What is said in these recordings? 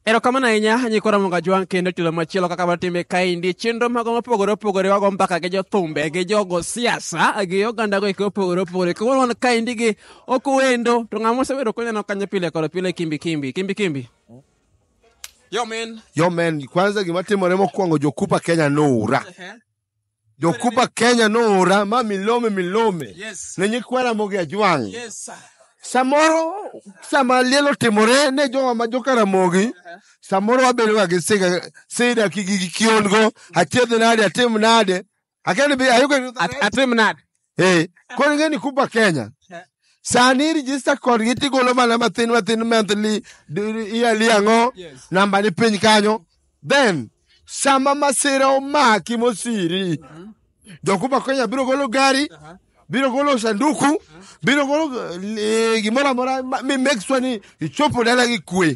Erokamano ahinya nyikwa Ramoga Jwang' kendo chulo machielo kaka watime kaendi chenro mago mopogore opogore wago mbaka gi jothumbe gi jogo siasa gi oganda go eko opogore opogore koro wan kaendi gi ok wendo to ng'ama osebedo koneno kanyo pile kod pile kimbi kimbi kimbi kimbi yo men yo men kwanza gima timore mokwongo jokupa kenya noura Jokuba Kenya noora ma milome milome Yes. ne nyikwa Ramogi Ajwang'. Yes, sir. Samoro sama liel otimore ne jowa ma joka Ramogi, samoro wabedoga gi siga- sida gi gi- gi kiongo, achiedh nade, atim nade. Akia ni be ayudo At- Atim nade? Eh, koro ing'e ni Kuba Kenya. Sani register kodgi tigolo mana mathin mathin monthly d- yearly ang'o namba ni piny kanyo. Then sama masira omaki mosiri. Jo Kuba Kenya biro golo gari, biro golo sanduku, biro golo eh, gimoro amora ma- mi make sure ni ichopo dala gi kwe.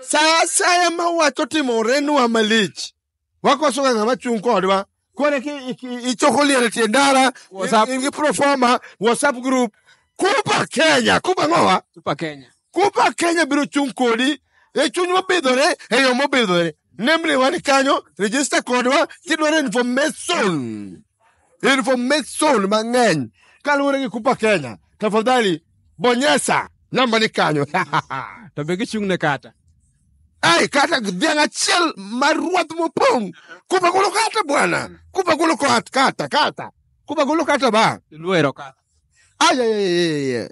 sa asaya ma wach otimorenwa malich wakosoga ng'ama chung' kodwa koro eki iki- ichoko liel e tie ndara WhatsApp. in gi proforma whatsapp group kuba kenya kuba ng'owa Super Kenya. kuba kenya biro chung' kodi e chuny mobidhore e yo mobidhore nemriwa ni kanyo register kodwa kidwaro information information mang'eny kaluwore gi kupa kenya tafadhali bonyesa namba ni kanyo to be gichung' ne kata ai kata dhiang' achiel mar ruath mopong' kupa golo kata bwana kupa golo kat- kata kata kupa golo kata ba luero kata ayayayeye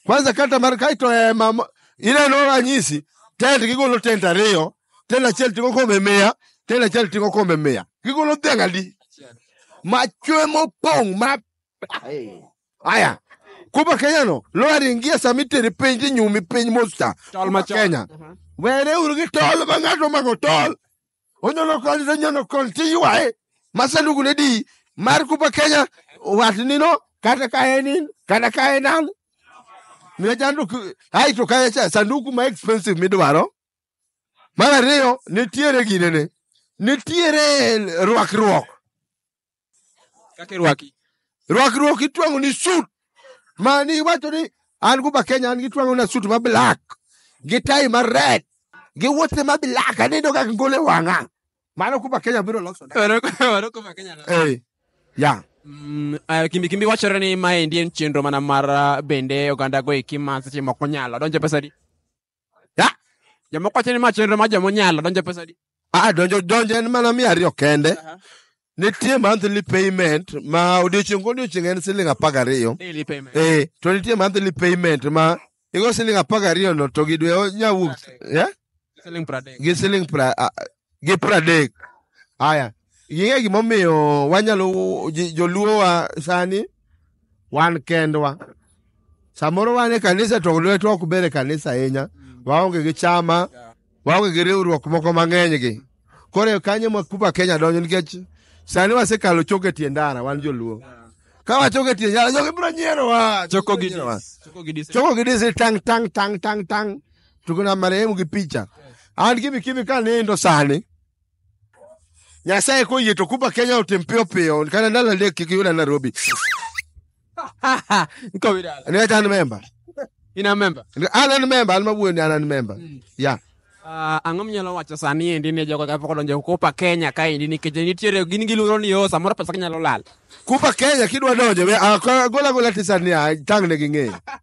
kwanza kata mar kaito ema mo- ineno ranyisi tent gigolo tent ariyo telo achiel ting'o kombe mia telo achiel ting'o kombe mia gigolo dhiang' adi machwe mopong' ma aya kuba kenyano lowari ngie sama iteri piny tinyumi piny mosta Tol machon. kenya were uru gi tol ma ng'ato omako tol onyono koni to onyono koni tiywaye ma sanduku ne di mar kuba kenya watnino kata ka en in kata ka en an miya sanduku ai to kaya cha sanduku ma expensive midwaro Mar ariyo, nitiere ginene, nitiere rwakruok. Kaka irwaki. Rwakruok itwang'o ni sut, mani iwacho ni an guba Kenya an gitwang'o na sut ma black gi tai ma red gi wuoche ma black anido ka ngole wang'a. Mano kuba Kenya biro loso. na. Waro- waro kuma Kenya na. Eh, ya. Mm, ah, kimbi kimbi wachore ni maendi en chenro mana mar ah, bende oganda go eki ma seche moko nyalo donjo pesa di Ya, jomoko wacho ni ma chenro ma joma onyalo donjo pesa di. Ah, donjo donjo en mana mia ariyo kende. Nitie monthly payment ma odiochieng' kodiochieng' en siling apar gariyo. Daily payment. Eh, to nitie monthly payment ma igo siling apar gariyo no to gi dwe onya wuok. Yeah? Selling per day. Gi siling pra, ah, gi pradek haya ing'e gimomiyo wanyalo ji- joluowa sani wan kendwa samoro wan e kanisa to lwetwa ok ber e kanisa ahinya waonge gi chama waonge gi riwruok moko mang'eny gi koro e kanyo ma kuba kenya donjo nikech sani wasekalo choke tie ndara wan joluo ka wachoke tie ndara jogi biro nyierowa Choko gi Nyierowa. choko gi dis. choko gi disi tang tang tang tang tang tuko na marehemu gi picha an gimi kimi ka nindo sani nyasaye koyie to kuba kenya otim piyo piyo kata ndalo adek kik yuda nairobi Niko bidala. niwach an memba In a member. an an memba an mawuoyoni an an memba ya Ah, ang'o minyalo wacho sani endi ne jogo kapok odonjo kopa kenya kaendi nikech nitiere gin giluoro ni o samoro pesa ginyalo lal kuba kenya kidwa donjo we- ah, ka- gola gola tisani tang' ne ging'eyo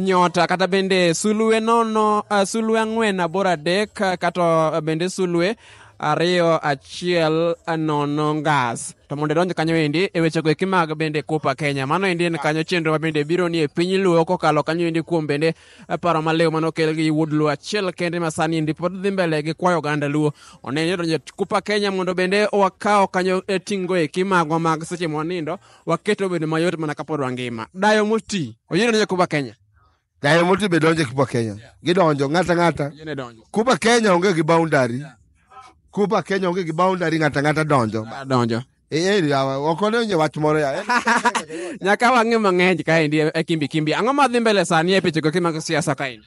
nyota kata bende sulwe nono uh, sulwe ang'wen aboro adek uh, kata bende sulwe ariyo achiel nono ngas to mondo idonj kanyo endi e wechego eki mag bende kupa kenya mano endi en kanyo chenro ma bende biro ni e piny luo kokalo kanyo endi kuom bende paro maliw mane okel gi wuod luo achiel kende ma sani endi pod dhi mbele gi kwayo oganda luo oneni odonjo kupa kenya mondo bende wakaw kanyo e tingo eki magwa mag seche mwanindo waketo bedo mayot mana kapod wangima. Dayo moti, oyiene donjo Kuba Kenya. Dayo moti be donjo Kuba Kenya. Gidonjo ng'ata ng'ata. Oyiene donjo. Kuba Kenya onge gi boundary. Kuba Kenya onge gi boundary ng'ata ng'ata donjo. Donjo. Eh, eh, yawa, ok onenye wach moro ya. Nyaka wang'e mang'eny kaendi e kimbi kimbi. Ang'o madhi mbele sani e pichego kimago siasa kaendi?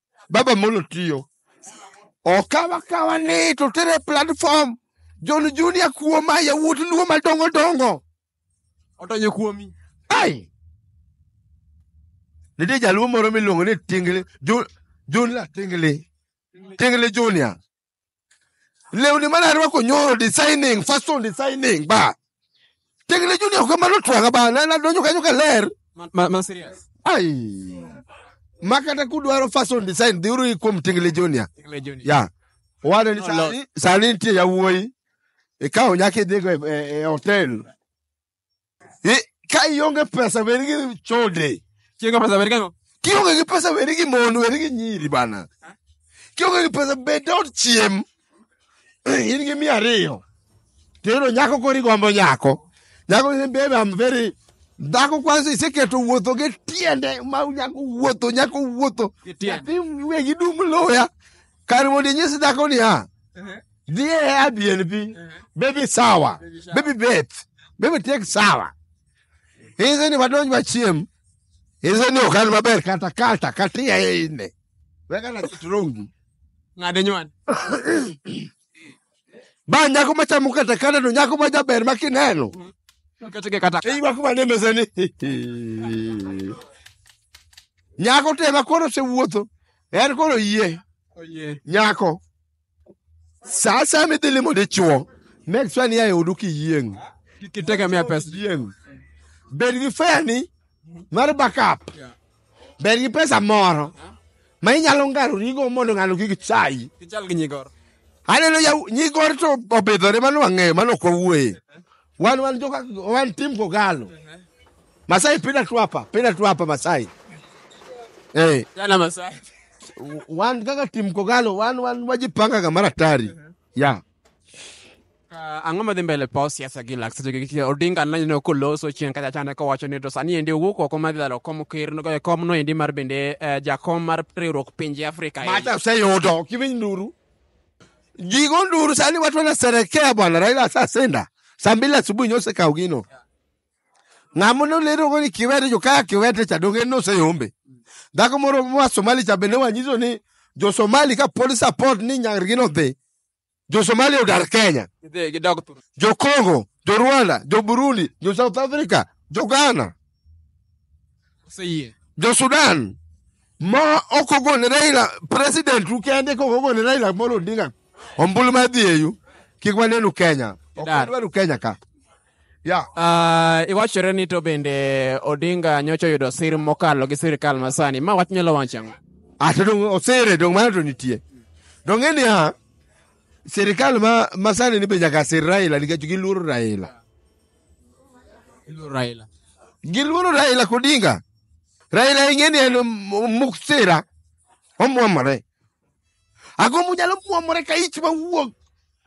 Baba Molo tiyo. Okawa kawa ni to tere platform. John Junior kuoma yawuot luo madongo dongo. Otonyo kuomi. Ai. Nitie jaluo moro miluongo ni Tingle Jo- Junior Tingle. Tingle Junior. lewni mane arwako nyoro designing fashion designing ba tekne junior ka mano twanga ba na- nadonjo kanyo ka ler Ma, ma serious. ai ma kata kudwaro fashion design dhiuru i kuom tingle junior Tingle Junior. ya owadwa ni No, sani- sani nitie yawuoyi ikawo nyaka idhigo e- e e hotel I- ka ionge pesa bed gi chode Chiengo pesa beri kango. kionge gi pesa bed gi mon bed gi nyiri bana kionge gi pesa bed dot chiem in gi mia ariyo tero nyako kori gombo nyako nyako ni bebe am very dhako kwanza iseketo wuotho gi tiende ma nyako wuotho nyako wuotho Gi tiende. nyathi wegi dum loya Kar mondo inyis dhako niya, dhi e Airbnb, baby sawa, baby bet, baby tek sawa. Inse ni wadonj wachiem, inse ni ok an maber kata kata kata iyaye ine. Weka na kit rongi. Ng'ade nywan. Ba nyako machamo kata kata to nyako ma jaber ma kineno. Kata ke kata. Iwa kuma ne mesani. Nyako tema koro osewuotho. en koro yie nyako sa asaya midhi limo dichuo make sure ni ae odu kiyieng kitegemea pesa yieng bed gi feni mar backup bed gi pesa moro ma inyalo ngarorigo mondo ng'ano kik chayi kichal gi nyigoro aneno ya- nyigor to obidhore mano ang'eyo mano ok wawuoye Wan wan joka wan tim kogalo. Masai pina tu hapa, pina tu hapa Masai. Eh, Jana Masai. wan kaka tim kogalo wan wan wajipanga kama ratari. Ya. Ah, ang'o madhi mbele pa siasa gi lak seche gi odinga naneno koloso chieng' kacha chande kowacho ni to sani endi owuok oko madhi lalo kom ker no- eh, kom no endi mar bende eh, jakom mar riwruok pinje afrika endi. Mata useyudo kiwiny nduru. Gigo nduru sani watu wanasherekea bwana Raila asasenda. Saa mbili asubuhi nyose kao gino. Ng'amo no lero ngoni kiwete jo kaya kiwete cha donge no se yombe. Dhako moro mwa Somali cha bende wanyiso ni jo Somali ka police support ni nyar gino dhi. Jo Somali odar Kenya. Gidhi gidog thur. Jo Congo, jo Rwanda, jo Burundi, jo South Africa, jo Ghana. Oseyie. Jo Sudan ma ok ogone Raila president u kende kok ogone Raila Amolo Odinga ombulu mar dhi eyu kik wanenu Kenya. Ok Dar. wadwaru Kenya ka. Ya. Ah, iwachore ni to bende Odinga nyocha oyudo sir mokalo gi sirkal masani. Ma wach nyalo wacho ang'o? Ata dong osere dong mano to nitie. Dong ng'e niya sirikal ma masani ni be nyaka sir Raila nikech giluoro Raila. Iluoro Raila. Giluoro Raila Odinga. Raila ing'e ni en m- muk sira. Omwomore. Ago munyalo mwomore ka ich mawuog.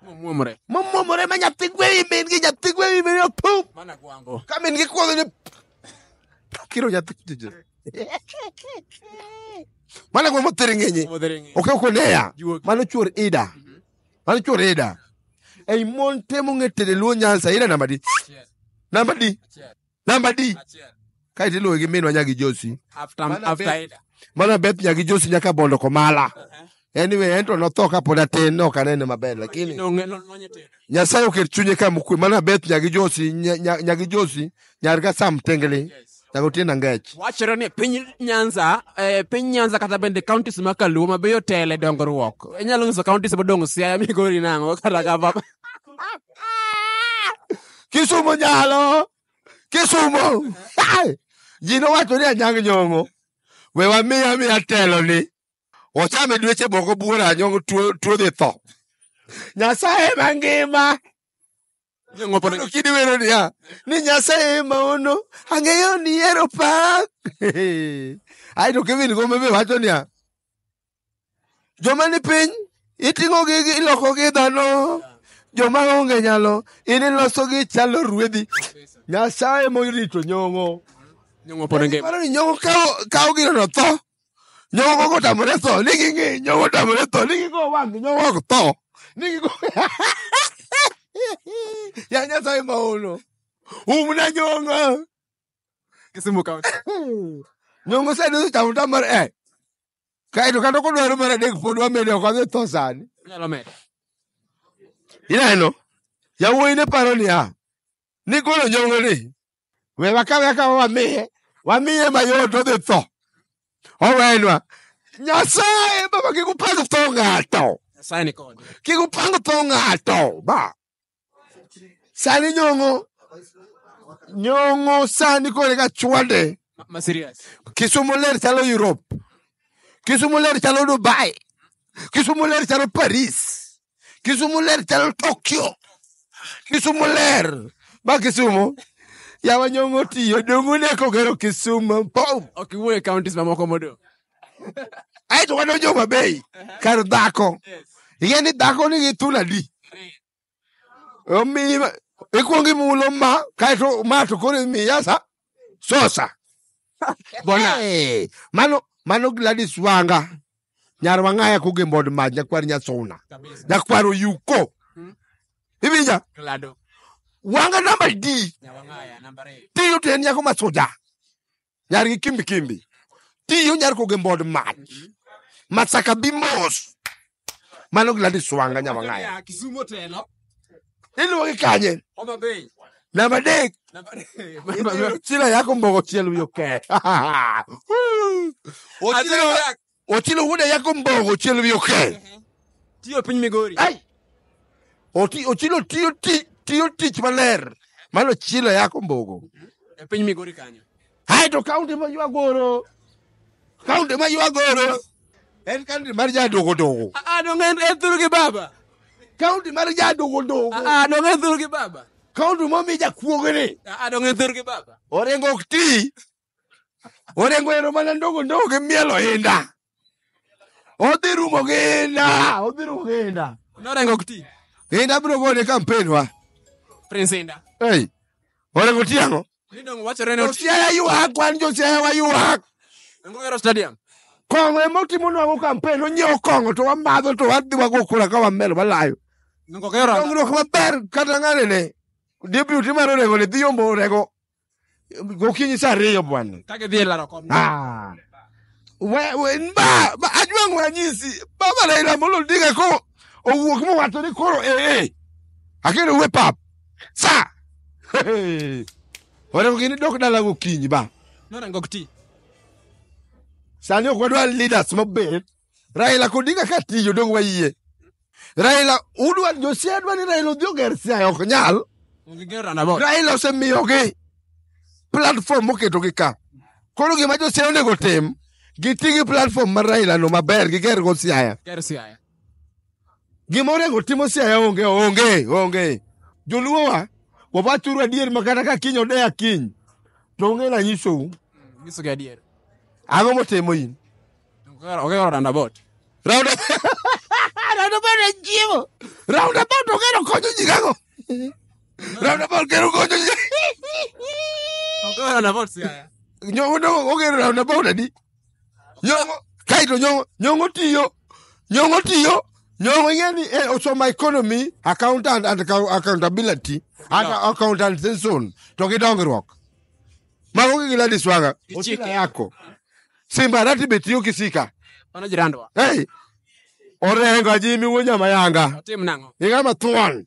Omwomore. Momwomore ma nyathi gwewi min gi nyathi gwewi min opum. Mana kwango. Ka min gi kwango ni kiro nyathi kujiji. Mana kwa mothiri ng'enye. Omodhere ng'e. Oke okoneya. Juogi. Mano chuor Ida. Mano chwore e da. Ei mon temo ng'e tede luo nyansa ira namba di. Namba di. Namba di. Kae ti luwe gi minwa nyagi Josi. After, Mana after bed. Ida. Mana Beth nyagi Josi nyaka bondo komala. Anyway, en to notho ka pod atin ne ok anene maber lakini Nong'e lony tedo. Nyasaye oket chunye kama okwe. Mana Beth nyagi Josi nya- nya- nyagi Josi nyar ka sam tengli nyaka otie na ngech wachore ni piny nyanza eh, piny nyanza kata bende counties ma kaluo ma be otele dongruok inyalo nyiso counties modong' siaya migori nang'o kata kama kisumo nyalo kisumo Ai! ji nowacho ni anyang nyong'o we wamiya miya telo ni ochame dweche moko buora anyong'o tuo tuo dhi tho nyasaye mangima Nyang' wapo ne- Koro kidi wero niya ni nyasaye ema ono ang'eyo ni ero pak ae to kevin gombe be wacho niya joma ni piny iting'ogi gi- ilokogi dhano joma onge nyalo in ilosogi chalo ruedhi nyasaye morito nyong'o Nyang' wapo ne ngima. paro ni nyong'o kawo- kawo gino to tho Nyogo kotamore tho, ni ging'i, nyogo kotamore tho, ni gingo wang, nyogo ok tho. Ni gingo... Ya Nyasaye maono. Umna nyongo. Kisumu County. Nyongo sani osechamo tamar eh. Kaeto kata kodwaro mar adek pod wamede ok adhi tho sani. Nyalo medo. Ineno? Yawuoyi ne paro niya, ni golo nyongo ni we wakawe akawa wamiye wamiye mayot odhi tho owenwa nyasaye baba kik upang tho ng'ato Nyasaye ni kode. kik upang tho ng'ato ba sani nyongo nyongo sani kore ka chwade Ma- Ma serious. kisumu ler chalo europe kisumu ler chalo dubai kisumu ler chalo paris Kisumu ler chalo Tokyo. Kisumu ler. Ba Kisumu. Yawa nyongo tiyo. Dongo ne kogero Kisumu. Boom. Ok iwuo e counties mamoko modong'. Ae to wadonjo Homa Bay. Kar dhako. Ing'e ni dhako nigi thuno adi? Omi ikwongo imulo ma kaeto ma to koro imiya sa sosa bona Eh, mano mano gladys wanga nyar wang'aya kuge mbod mach nyakwar nyasona nyakwar oyuko iwinja Glado. wanga namba d Nyawang'aya, namba ariyo. tiyo to en nyako ma soja nyar gi kimbi kimbi tiyo nyar kuge mbod mach masaka bi mos mano gila diswanga nyamang'aya Kisumo telo. iluwogi kanye Homa Bay. namba adek Namba- chila yako mbogo chiel wiyo ke Achilo yak. ochilo wuoda yako mbogo chiel wiyo ke Tiyo piny Migori. Ai! Oti- ochilo tiyo ti- tiyo tich maler mano chilo yako mbogo E piny Migori kanyo. Ae to kaunti ma ywagoro, kaunti ma ywagoro en kaunti mar jadogodogo. Ah, dong' en en thuru gi baba. Kaunti mar jadogodogo. Ah, dong' en thuru gi baba. Kaunti momi jakuogni. Ah, dong' en thuru gi baba. Orengo ok ti. Orengo ero mana ndogo ndogo gi mielo inda. odhi rumo gi inda odhi rumo gi inda Norengo ok ti. inda biro gone kampen wa Prince Inda. ei orengo tiang'o Ni dongo wachore ni oti. josiaya ywak wan josiaya waywak Dongo gero stadium. kong'o ema otimo nwango kampen onyiewo kong'o to wamadho to wadhi wago kura ka wamer walayo Dongo gero. dongruok maber kata ng'anene deputy mar orengo ne dhi yombo orengo gokinyi saa ariyo bwana Ka gidhi e laro kom. Ah. We- we- n- ba- ba- ajwang' ranyisi baba raila amolo odinga ko owuok mowacho ni koro ee akendo we pap sa onego gini dok dala gokinyi ba Nora ngok ti. sani ok wadwar leaders mobet Raila Odinga ka tiyo dong wayie. Raila udwa Josia dwa ni Raila odhi oger Siaya ok nyal. Raila osemiyogi platform moketogi ka. Koro gima Josia onego tim giti gi platform mar Raila no maber giger go Siaya. Gima onego timo siaya onge onge onge. Joluowa wawachuru adier ma kata ka kiny odeya kiny to onge na nyisou. Nyiso gi adier. Ang'o motimo in? Ogero roundabout. Round roundabout en chiemo. Roundabout ogero konyo ji gago. Roundabout gero konyo ji. Ogero roundabout siaya. Nyo ogero roundabout adi? nyong'o kaito nyong'o nyong'o tiyo nyong'o tiyo nyong'o ing'e ni eh, osomo economy accountant and account- accountability and accountantation to gi dongruok mago gi Gladys Wanga Ichike. ochila yako simba rati be tiyo gi sika Mano jirandwa. hey orengo ajimi wuo nyama yanga Otim nang'o? ing'ama thuon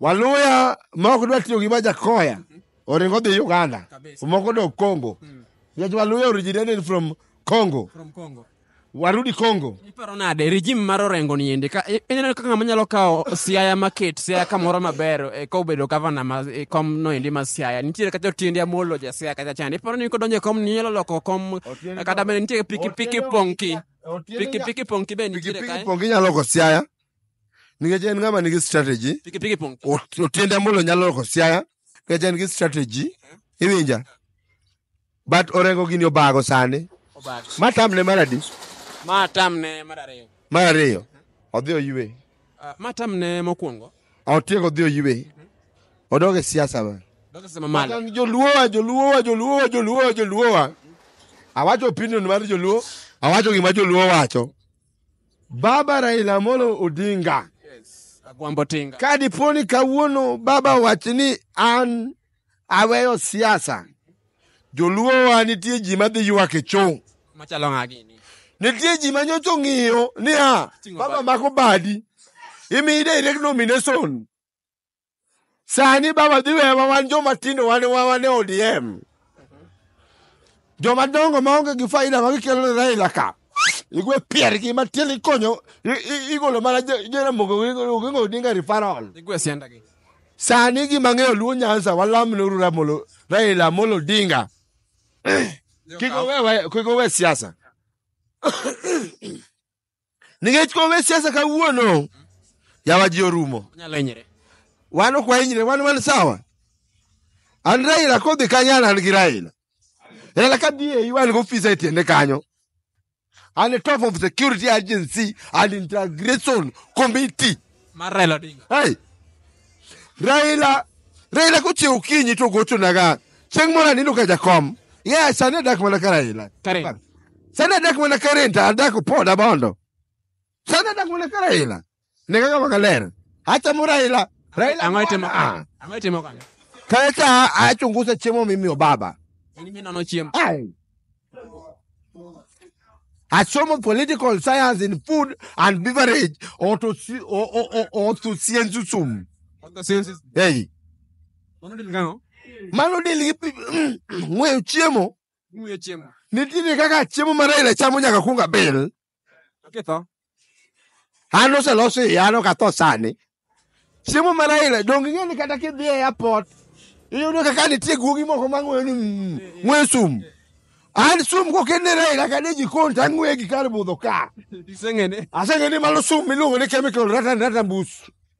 waluya ma ok dwa tiyo gi ma jakoya oringo dhi uganda Kabisa. moko dok congo nikech waluya originated from congo From Congo. warudi congo Iparo nade regime mar Orengo ni endi ka i- ineno kaka ng'ama nyalo kawo Siaya maket Siaya kamoro maber e, ka obedo gavana ma e, kom no endi ma Siaya nitiere kata Otiende Amolo ja Siaya kata chande iparo ni kodonjo e kom ni nyalo loko kom Otiende- kata bende nitiere piki piki Otiende- ponki Otiende- piki piki ponki be nitiere pikipiki kae pongi nyalo loko siaya nikech en ng'ama nigi strategy Piki piki pong. Ot- otiende ambolo nyalo loko siaya nikech en gi strategy iwinja but orengo gini obago sani Obag. ma tamne mar adi Ma tamne mar ariyo. mar ariyo odhi oywe Ah, Ma tamne mokwongo. otieko odhi oywe odog e siasa ma Dok sema malo. An joluowa joluowa joluowa joluowa joluowa awacho opinion mar joluo awacho gima joluo wacho Baba Raila Amolo Odinga. Yes. Agwambo tinga. Ka dipo ni kawuono baba wach ni an aweyo siasa, joluowa nitie ji madhi ywak e chong'. Machalo ng'a gini. Nitie ji ma nyocha ong'iyo niya, Ting'o baba badi. mako badi, imiyi direct nomination. sani baba dhi wewa wan joma tindo wan wa- wan e odm joma dongo maonge gi faida ma gikelo ne raila ka igwe piergi matin ikonyo i- i- igolo mana Je- jeramogo ogingo odinga rifarol Igwe sianda gi. sani gima ng'eyo luo nyanza walamneuru ramolo raila amolo odinga kik owe- kik owe siasa nikech kombe siasa kawuono yawa ji orumo Nyalo hinyre. wan ok wahinyre wan wan sawa an raila kodhi kanyo an an gi raila raila ka dhi eyi wan gofisa e tiende kanyo an e top of security agency and integration committee Mar Raila Odinga. hey, Raila Raila kochiew kinyi to gochonaga chieng' moro anindo ka jakom yeah sani adak mana ka Raila Karen. sani adak mana ka Renta adak poda bondo sani adak mana ka Raila ne kaka wanga ler achamo Raila Raila Ang'o itimo? Ah. Ang'o itimo kanyo? kacha achungusa chiemo mimiyo baba In minono chiemo. Ai. asomo political science in food and beverage or to si- or or or, or to science sum hey mano del gi pi- mm, ng'weyo chiemo nitiere kaka chiemo ma raila chamo nyaka kunga bil Oketho. An oseloso iya an ok atho sani. Chiemo mana ile donge ing'e ni kata kidhi e airport iyudo kaka nitie guogi moko mang'weyo ni mm, ng'we sum. An sum kokenera ila kane jikon to ang'weye gi kar budho ka. Iseng'ene. Aseng'e ni mano sum miluongo ni chemical ratan ratan bus.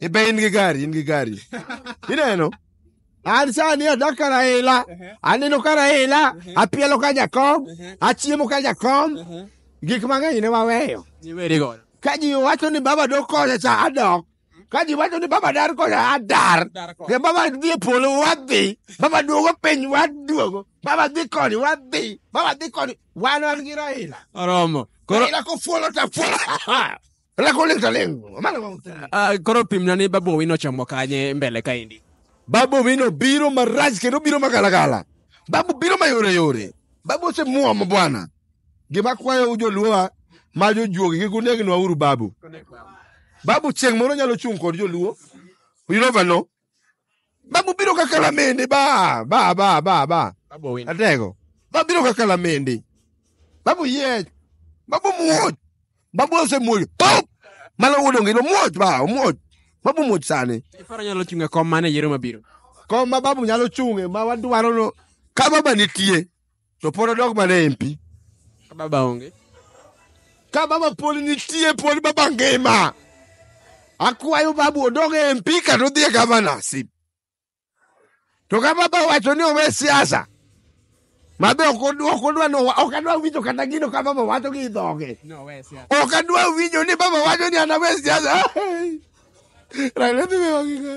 ibe in gi gari in gi gari ineno an sani adak ka raila aneno ka raila apielo ka jakom achiemo ka jakom gik mang'eny ne waweyo Iweri godo. ka ji wacho ni baba dok kocha cha adok ka ji wacho ni baba dar kocha adar ne baba dhi e polo wadhi baba duogo piny waduogo baba dhi koni wadhi baba dhi koni wan wan gi raila Oromo. Koro raila kofuolo ta fuolo Ala ko lekta lengo. Amana wa mtani. Ah, koro pimna ni babu owino chomo kanye mbele kaendi Babu Owino biro marach kendo biro magalagala. Babu biro mayore yore. Babu osemuomo bwana. Gima kwayo joluowa ma jojuogi gi kunegnwa uru babu. Babu chieng' moro nyalo chung' kod joluo. You never know. Babubiro ka kalamende ba ba ba ba ba. Babu win. Atego. Babiro ka kalamende. Babu yech. Babu muoch. Babu osemuoch. Pop! Mano odong' ilo muoch ba omuoch. Babu muoch sani. Ifaro nyalo chunga kom mane yiero mabiro. Kom ma babu nyalo chung'e ma wadwarono ka baba nitie. to pod odog mana e mpi Ka baba onge. ka baba pod nitie pod baba ngima akwayo babu odog e mpi kata odhi e gavanasi to ka baba wacho ni owe siasa mabe ok odwa ok odwa ni owa- ok adwa winjo kata gino ka baba wacho gi dhoge No, wes ya. ok adwa winjo ni baba wacho ni anawe siasa Raila dhi wewa gi ng'a?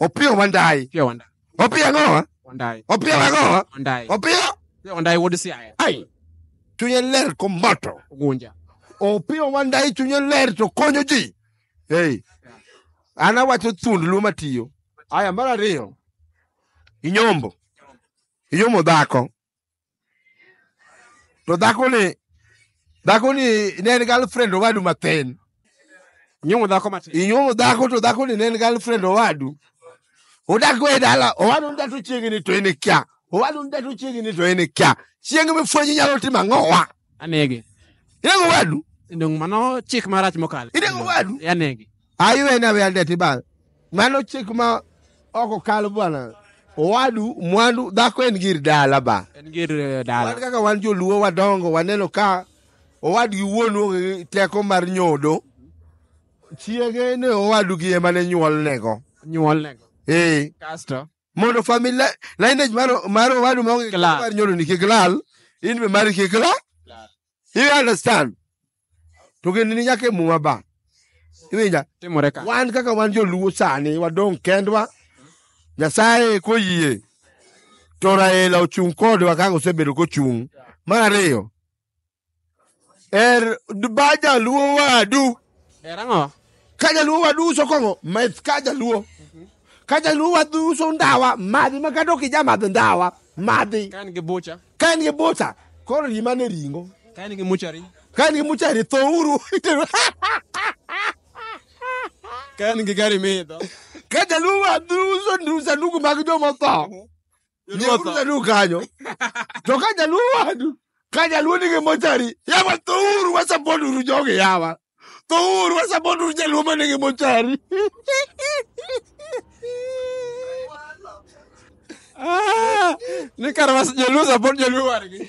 Opiyo Wandayi. Opiyo Wandayi. Opiyo ang'owa? Wandayi. Opiyo ang'owa? Wandayi. Opiyo? Opiyo Wandayi wuod Siaya. Ai. Chunye ler komoto. Ogunja. Opiyo Wandayi chunye ler to konyo ji. Hey. An awacho thund luo matiyo. Aya mar ariyo. Inyombo. Inyombo dhako. to dhakoni dhakoni ne en girlfriend owadu mathin nyuomo dhako matin inyuomo dhako to dhakoni ne en girlfriend owadu odak go e dala owadu nda to chiegni to en kia owadu nda to chiegni to en kia chieng' mifwenyi nyalo timo ang'owa anege inego wadu ndong mano chik marach mokalo Inego wadu? anege Aywe na wende ti bana. Mano chik ma oko kal bwana. Owadu mwandu dhako en gir dala ba. En gir eh, Wan dala. kaka wan joluo wadongo waneno ka owadgi wuonu onge gi teko mar nyodo. Chiege ne owadugi ema ne nyuolnego. Nyuol nego. Eh. Kasto. mondo family lineage mar mar owadu ma onge Klar. mar nyodo ni kik lal in be mari kik lal you understand to gini ni nyaka e muma ba iwinja timore ka wan kaka wan joluo sani wadong' kendwa nyasaye koyie to raila ochung' kodwa kaka osebedo kochung' mar ariyo er baja luo wadu Era ng'o? ka jaluo waduso kong'o meth ka jaluo ka jaluo waduso ndawa madhi ma kata ok ijamadh ndawa madhi ka en gi bucha ka en gi bucha koro rima ne ringo ka en gi muchari ka en gi muchari tho uru ka en gi gari midho ka jaluo waduso ndu- sanduku mag jomotho Jaluo du kanyo. To ka jaluo wadu, ka jaluo nigi mochari, yawa to uru wasapod uru jogi yawa. To uru wasapod uru jaluo ma nigi mochari. Ah, Ni kar was jaluo support jaluo wargi.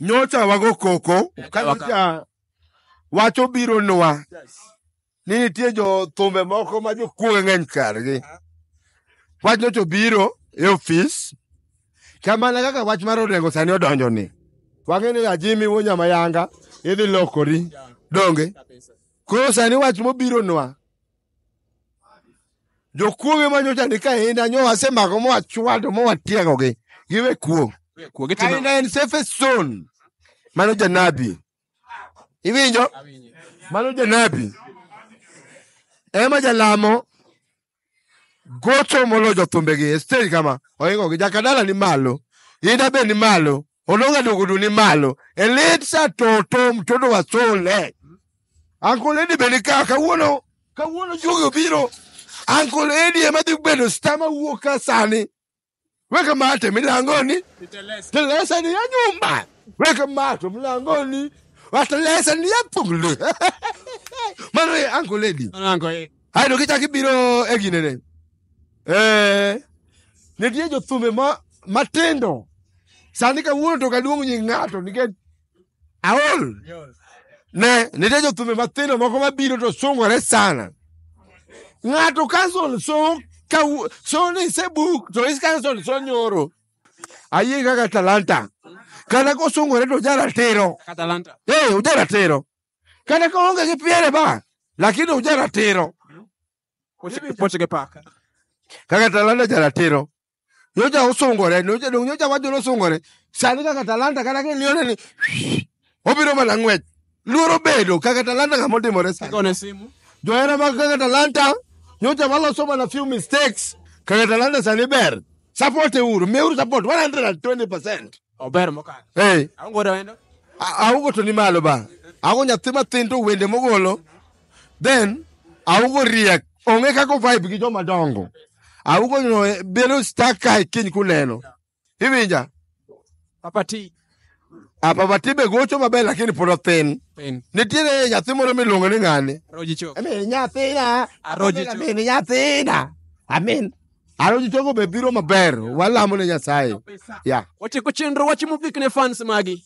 nyocha wago koko ka nyocha wach obironwa ni nitie jo thumbe moko ma jokuoge ng'eny kargi wach nyocha obiro e ofis kamana kaka wach mar orengo sani odonjo ni wang'e ni ajimi wuo nyamayanga idhi lokori donge koro sani wach mobironwa Jokuoge ma nyocha ni kainda nyo wasemako ma wachwado ma watiegogi. Giwe kuong'. Kuo gitimo Kainda en safe zone. Mano janabi. Iwinjo? Mano janabi. Ema jalamo gocho molo jothumbegi e stage kama oingogi jakadala ni malo inda be ni malo olonga dogodu ni malo elitsa toto mtoto wa sole Uncle Eddie bende ka kawuono kawuono juogi obiro. Uncle Eddie ema dhi bedo star ma wuok ka sani. Weka mate milango ni. Telesa ni ya nyumba. Weka mate milango ni. Watelesa ni ya pungli. Mano ye Uncle Eddie. Anango eh. Hai no kichaki biro e gine ne. Eh. Nitie jothumbe ma matindo. Sani kawuono to kaduong' nying ng'ato nikech aol ne nitie jothumbe mathindo moko mabiro to sungore sana ng'ato kanson so kawu- so ni se buk to is kanson so nyoro ayie kaka talanta kata kosungore to jaratiro Atalanta. Eh, uja ratiro. Kata ka onge gi piere ba, lakini uja ratiro. Poche poche ke paka. Kaka talanta ja ratiro. nyocha osungore nyocha dong nyocha wacho nosungore sani kaka talanta kata kilione ni obiro mana ng'wech luoro bedo kaka talanta ng'ama otimore sani Kone simu. johera mag kaka talanta nyocha waloso mana few mistakes kaka talanta sani ber support euru miuru support 120 percent Ober mokalo. Hey. Aongo da wendo. Aongo to ni malo ba. Aongo nyathi mathin to wende mogolo. Then aongo riek. Onge kako vibe gi joma dongo. Aongo no eh, belo stack kai kiny kuneno. Iwinja? Papa T. A ah, Papa T be gocho maber lakini pod othin. Thin. Nitiere nyathi moro miluongo ni ng'ani. Roji chok. Amin nyathina. Aroji chok. Amin nyathina. Amin. Aro ji togo be biro maber. Walamo ne Nyasaye. Ya. Watieko chenro wachi mogik ne fans magi.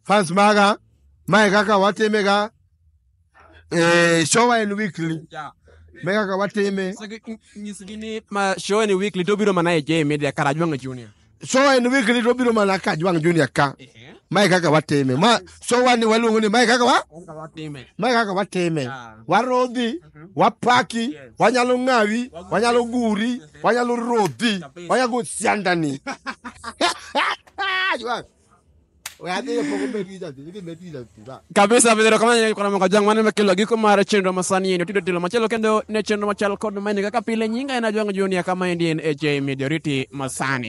Fans maga, mae kaka watime ga. Eh, show en weekly. Yeah. Me kaka watime. Nyisgi ni ma show ni weekly to biro mana e J Media Karajwang' Junior. so en weekly to obiro mana ka jwang junior ka Ehe. mae kaka watime ma so wani waluongo ni mae kaka wa Kaka watime. mae kaka watime Ah. warodhi wapaki Yes. wanyalo ng'awi wanyalo guri wanyalo rodhi Kabisa. wanyago siandani Jwang. We adhi e poko bet gi jadhi, idhi bet gi jadhi, ba. kabisa bidhero kama nyaka kona maka jang mane makelo giko mar chenro masani yendo tido tilo machelo kendo ne chenro machal kod mane kaka pile nyinga en ajwang junior kama endi en HJ Majority masani